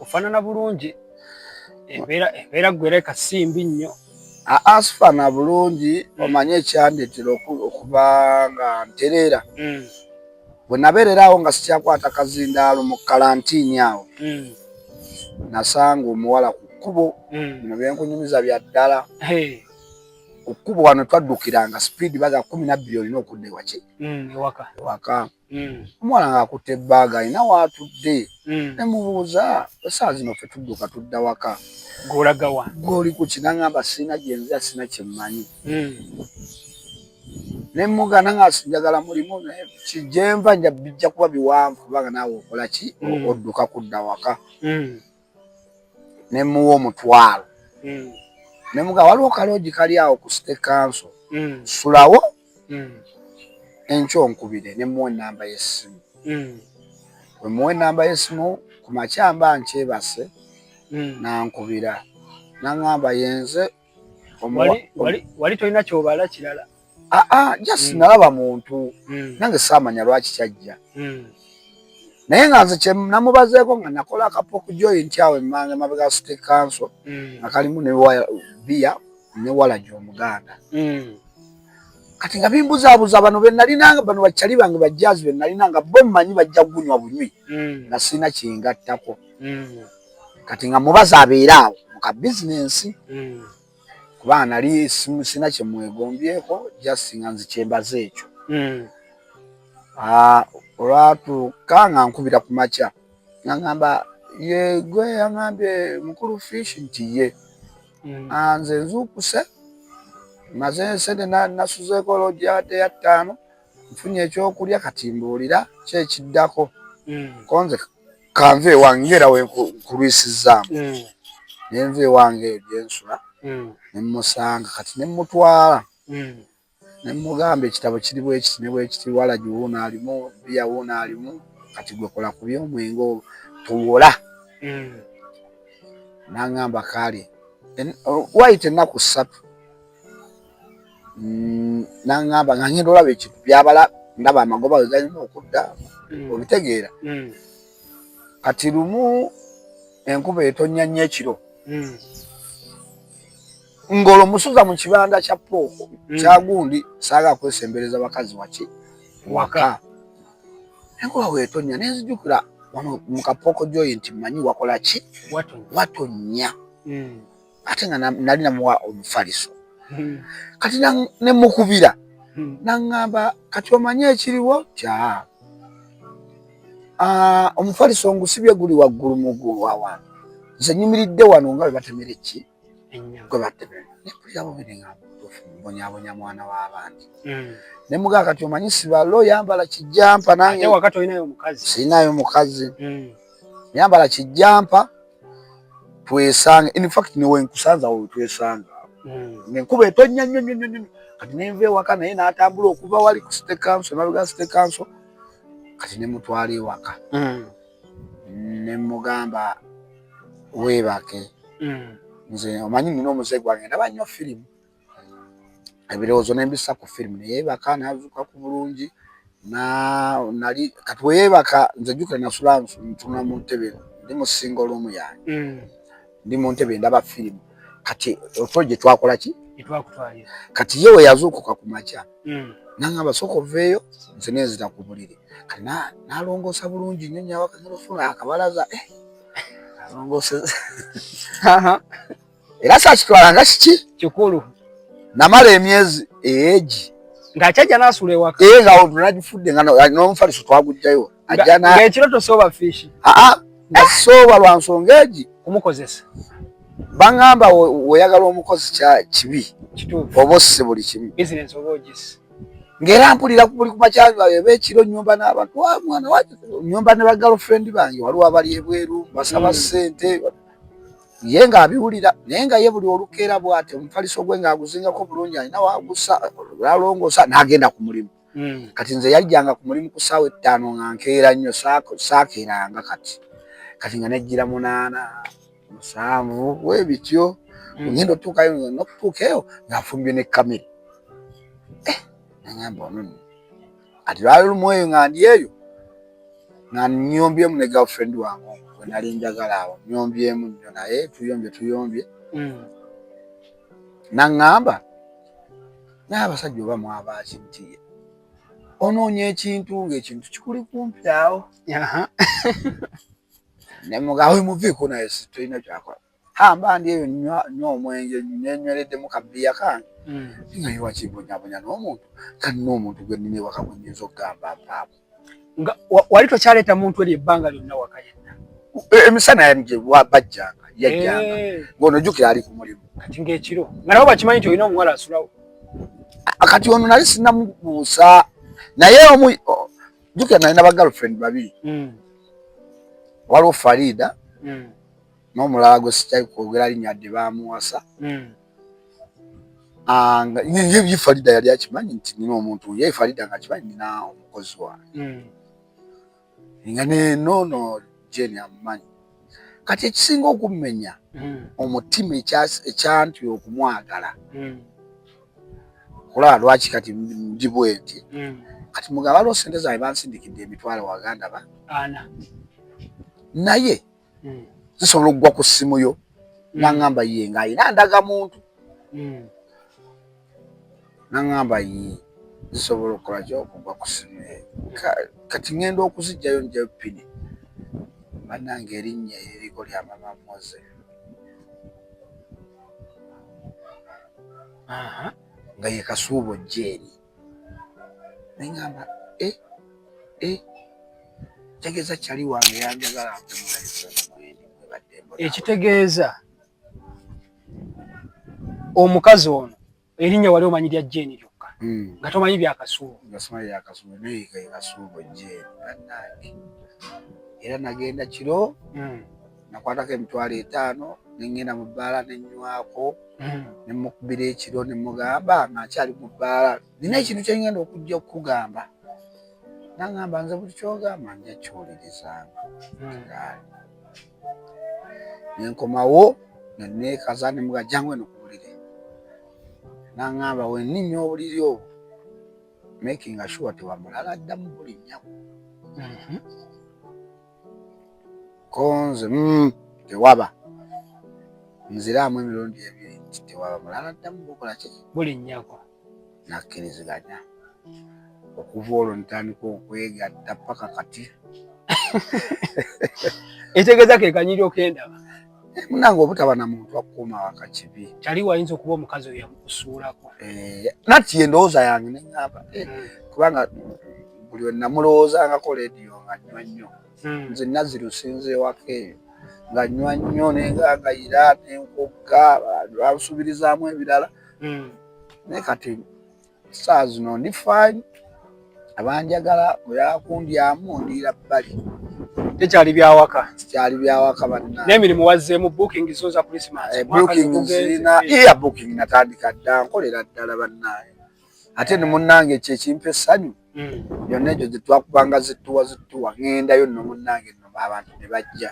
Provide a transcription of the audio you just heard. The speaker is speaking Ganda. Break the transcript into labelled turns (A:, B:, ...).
A: ofanana bulungi embeera embeera gwereka simbi nnyo asifana
B: bulungi hmm. omanye ekyandetera okuba nga ntereera hmm. bwe nabeereraawo nga sikyakwata kazindaalo mu kalantiini awo hmm. nasanga omuwala ku kkubo bino byenkunyumiza bya ddala ku kkubo wano twaddukiranga sipiidi baga kumi nabbiri olina okudda ewaki ewaka hmm. omwana ng'akutte ebbaaga alina waatudde hmm. ne mubuuza esaawa zino ffe tudduka tudda waka golagawa
A: goli ku kinangamba
B: sirina gyenzira sirina kyemmanyi hmm. ne mugana nga njagala mulimu naye kijenva nja bijja kuba biwanvu kubanga naawe okola ki odduka kudda waka ne muwa omutwalo mm. ne muga waliwo kaloogi kali awo ku state council mm. sulawo mm. enkyo nkubire ne muwa enamba y'essimu mm. we muwa enamba y'essimu ku makyamba nkyebase mm. nankubira nangamba yenze
A: wali tolina kyobala kirala aa ah, ah, just
B: mm. nalaba muntu mm. nange saamanya lwaki kyajja mm. naye nga nze kyenamubazeeko nga nakola akapo ku joint awo emmanga mabega city council mm. nga kalimu ne biya ne walaji omuganda mm. kati nga bimbuzaabuza bano benalinanga bano bakyali bange bajjaazi benalinanga bo mmanyi bajja kugunywa bunywi mm. nga sirina kyengattako mm. kati nga mubazi abeera awo mu ka bizinensi hmm. kuba nali sina kye mwegombyeko just nga nzi kyembaze ekyo hmm. ah, olwatuuka nga nkubira ku makya nga ngamba yegwe yangambye mukulu fish nti ye hmm. ah, nze nzuukuse maze nsente nasuzeeko olojade ya ttaano nfunye ekyokulya kati mbuulira kyekiddako konze kanve ewange ngera wenkulwisizaamu mm. nenva ewange gyensula mm. nemusanga kati nemutwala mm. nemugamba ekitabo kiri bwekiti nebwekiti walagi wuuno alimu biya wuuno alimu kati gwekola ku byomwenge olwo tuwola nangamba kale wayita ennaku ssatu mm, nangamba nga ngenda olaba ekintu byabala ndaba amagoba we galina okudda mm. obitegeera mm. kati lumu enkuba etonya nnyo ekiro ngolo musuza mu kibanda kya pooko kyagundi saaga kwesembereza bakazi waki waka enkuba wetonya nenzijukira wano mu kapooko joyinti manyi wakola ki watonya ate nga nali namuwa omufaliso hmm. kati nemukubira hmm. naŋŋamba kati omanye ekiriwo kya ah, omufaliso ngusibye guli waggulu mugulu wawantu nze nyumiridde wano nga webatemera eki gwe batemera nekulirabo bineŋamba mbonyabonya mwana w'abandi hmm. nemuga kati omanyi sibalo yambala kijampa nange
A: sirinayo mukazi
B: yambala kijampa twesanga in fact niwe nkusanza wo twesanga hmm. ne kuba etonya nyo nyo nyo kati ne nve waka naye natambula okuva wali ku state council na lugas state council kati ne mutwali waka hmm. ne mugamba webake hmm. nze omanyi nino omuze gwange ndaba nyo film ebirowoozo ne mbissa ku firimu ne yeebaka n'azuuka ku bulungi nali kati bwe yeebaka nze jjukira nasula ntunula mu ntebe ndi mu singa oluumu yange mm. ndi mu ntebe ndaba firimu kati oto gye twakola ki kati ye we yazuukuka ku makya mm. nanga basooka oveeyo nze nenzira ku buliri kati nalongoosa bulungi nyo nyawaka nalofuna akabalaza eh, alongooseza era saakitwala nga kiki kikulu
A: namala
B: emyezi eegi ng'akyajja n'asula
A: ewaka ee nga olwo nagifudde
B: nga n'omufaliso twagujjayo ajja na ng'ekiro
A: tosooba fiishi aa nga sooba
B: lwa nsonga egi kumukozesa
A: bangamba
B: weyagala omukozi kya kibi oba osse
A: buli kimu ng'era mpulira
B: buli kumakyaga eba ekiro nyumba n'abantu wa ah, mwana wa nyumba ne bagirlfriend bange waliwo abali ebweru basaba hmm. ssente ye ng'abiwulira naye nga ye buli olukeera bw'ati omufaliso gwe ng'aguzingako bulungi alina wagusa alongoosa n'agenda ku mulimu hmm. kati nze yajjanga ku mulimu ku ssaawa ettaano nga nkeera nnyo saakeeranga kati kati nga nejjira munaana musanvu we bityo hmm. ngenda otuukayo nokutuuka eyo ng'afumbye ne kamere eh, nagamba ono ati lwali lumu eyo nga ndi eyo nga nyombyemu ne girlfriend wange we nali njagala awo nyombyemu nnyo naye tuyombye tuyombye mm. naŋŋamba naye abasajja oba mwabaaki nti onoonya ekintu ng'ekintu kikuli kumpi awo ne mugawe muviiko naye tolina kyakola hamba ndi eyo nywa nywa omwenge nenywereddemu ka bbiya kange hmm. naye wakibonyabonya n'omuntu talina omuntu gwe nnina ewaka gwe nyinza okugamba mpaamu nga wali
A: tokyaleeta muntu eri ebbanga lyonna waka yenna e, emisana
B: yali gye bajjanga yajjanga eh. ng'ono jjukira ali ku mulimu kati ng'ekiro
A: nga nabo bakimanyi nti olina omuwala asulawo kati
B: ono nali sinamubuusa naye omu jjukira nalina ba girlfriend babiri hmm. waliwo farida hmm. n'omulala gwe sikyali kwogera linnya yadde baamuwasa hmm. ah, ye farida yali akimanyi nti nina omuntu ye farida nga akimanyi nina omukozi wange hmm. nga nenoono jeni amumanyi kati ekisinga okummenya hmm. omutima ekyanti okumwagala kulaba lwaki kati ndi bwenti kati mugaba lwo sente zange bansindikidde emitwalo waganda ba naye zisobola okugwa ku ssimu yo nangamba ye nga alina ndaga muntu nangamba ye zisobola okukola ki okugwa ku ssimu ye kati ŋenda okuzijjayo njayo pini banange erinnya eririko lya mama moze nga ye kasuubo jeeri neŋamba e e kitegeeza kyali wange yanjagala
A: ekitegeeza omukazi ono erinnya wali omanyi lya jeeni lyokka hmm. nga tomanyi byakasuubo
B: era nagenda kiro hmm. nakwatako emitwalo etaano ne ŋŋenda mu bbaala ne nnywako hmm. ne mmukubira ekiro ne mmugamba ng'akyali mu bbaala nina ekintu kye ŋŋenda okujja okukugamba naŋŋamba nze buli kyogamba nja kiwulirizanga hmm. ne nkomawo ne neekaza ne muga jangu eno ku buliri naŋŋamba wenninnya obuliri obwo makinga sure tewamulala ddamu buli nnyako hmm. konze mm, tewaba nziraamu emirundi ebiri nti tewaba mulala ddamu bukola ki buli nyakwa
A: nakkiriziganya
B: okuva olwo ntandika okwegatta paka kati
A: etegeeza kekanyiri okendaba Eh, munange
B: obutaba na muntu akukuuma waka kibi. Kyali wayinza okuba omukazi
A: oyo yamukusuulako. Eh, nati ye
B: ndowooza yange ne ŋŋamba eh, hmm. kubanga buli we namulowoozangako leediyo nga nnywa nnyo hmm. nze naziru sinza ewaka eyo nga nnywa nnyo ne ngagayira ne nkugga lwalusubirizaamu ebirala hmm. naye kati Saa zino ndi faali abanjagala bwe bakundyamu ndiira bbali. Tekyali
A: byawaka. Tekyali byawaka
B: banna. N'emirimu wazzeemu booking
A: zo za Christmas. Eh, booking zirina
B: iya booking natandika dda nkolera ddala bannaayo. Ate ne munnange kye kimpa essanyu. Mm. Yonna egyo gye twakubanga zittuwa zittuwa ŋŋendayo nno munnange nno abantu ne bajja.